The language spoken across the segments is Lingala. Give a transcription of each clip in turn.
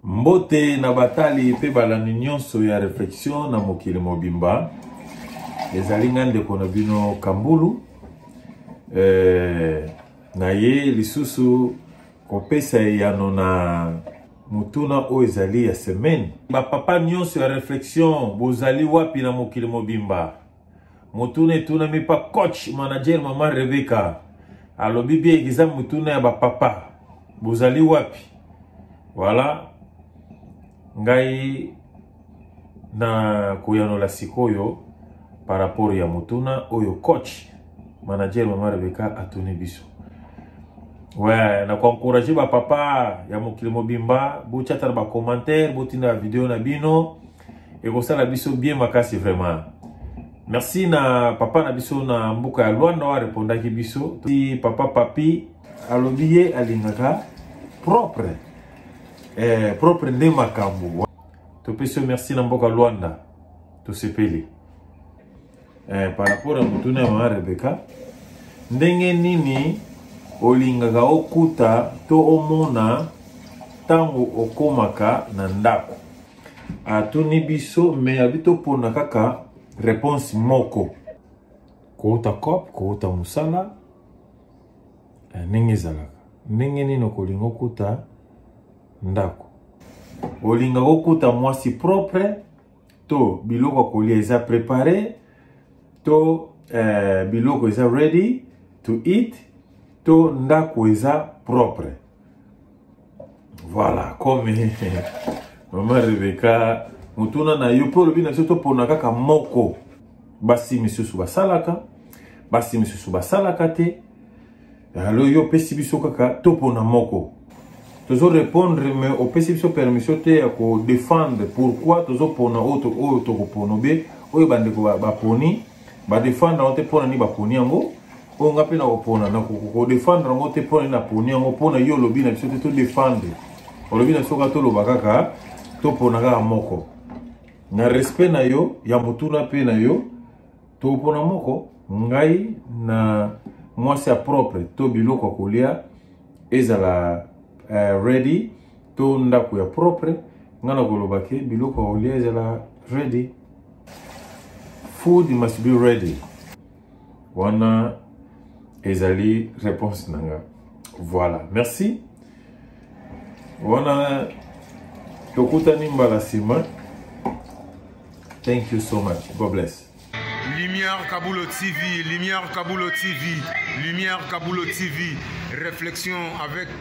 Mbote na batali mpe balandi nyonso ya reflexion na mokili mobimba. Ezali nga ndeko na bino Kambulu. Eh, na ye lisusu kopesa eyano na motuna oyo ezali ya semaine. Bapapa nyonso ya reflexion bozali wapi na mokili mobimba? motuna etunami pa coach manager mama rebeka alobi bien eza motuna ya bapapa bozali wapi voilà ngai na koyanola sikoyo par rapport ya motuna oyo coach manager mama rebeka atuni biso ouais na koencourage bapapa ya mokili mobimba botyatala bacommentaire botinda video na bino ekosala biso bien makasi vraiment merci na papa na biso na mboka ya lwanda oyo arepondaki biso ti papa papi alobi ye alingaka propre eh, propre nde makambo topesi yo merci na mboka lwanda tosepeli eh, par rapport ya motuna ya mama rebeka ndenge nini olingaka okuta to omona ntango okomaka na ndako atuni biso me abi topona kaka réponse moko kouta cop kouta mosala eh, ndenge ezalaka ndenge nini okolinga okuta ndako olinga kokuta mwasi propre to biloko ya kolia eza prepare to eh, biloko eza ready to eat to ndako eza propre Voilà, comme maman Rebecca, motuna na yo mpo olobi na biso topona kaka moko basi misusu basalaka basi misusu basalaka te alo yo opesi biso kaka topona moko tozo répondre mais opesi biso permission te ya kodefendre pourquoi tozopona oyo tokopona obe oyo bandeko baponi badefendre yango te mpona nini baponi yango oyo nga mpe na kopona na kodefendre yango te mpo na poni yango mpo na yo olobi na biso te todefendre olobi na biso kaka toloba kaka topona kaka moko na respect na yo ya motuna mpe na yo topona moko ngai na mwasi ya propre to biloko ya kolia ezala uh, ready to ndako ya propre ngai nakoloba ke biloko ya kolia ezala ready food must be ready wana ezali réponse na nga voilà merci wana tokutani mbala nsima thank you so much god bless Lumière Kabulo TV, Lumière Kabulo TV, Lumière Kabulo TV, réflexion avec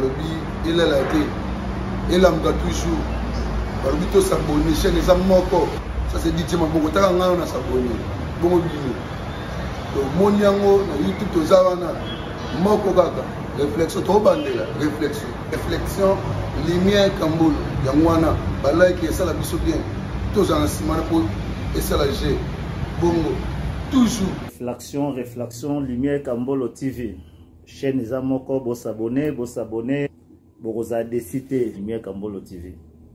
balobi elala te elamuka toujours balobi to sabone chaine eza moko ça c'est didie maboko taka ngai na sabone bongo bino tomoni yango na youtube toza wana moko kaka réflexion tokobandela réflexion réflexion lumière kambolo yango wana balike esala biso bien tozala na nsima na mpo esala je bongo toujours réflexion réflexion lumière kambolo tv chaîne eza moko bo s'abonner bo s'abonner bokozala desi te lumière kambolo tv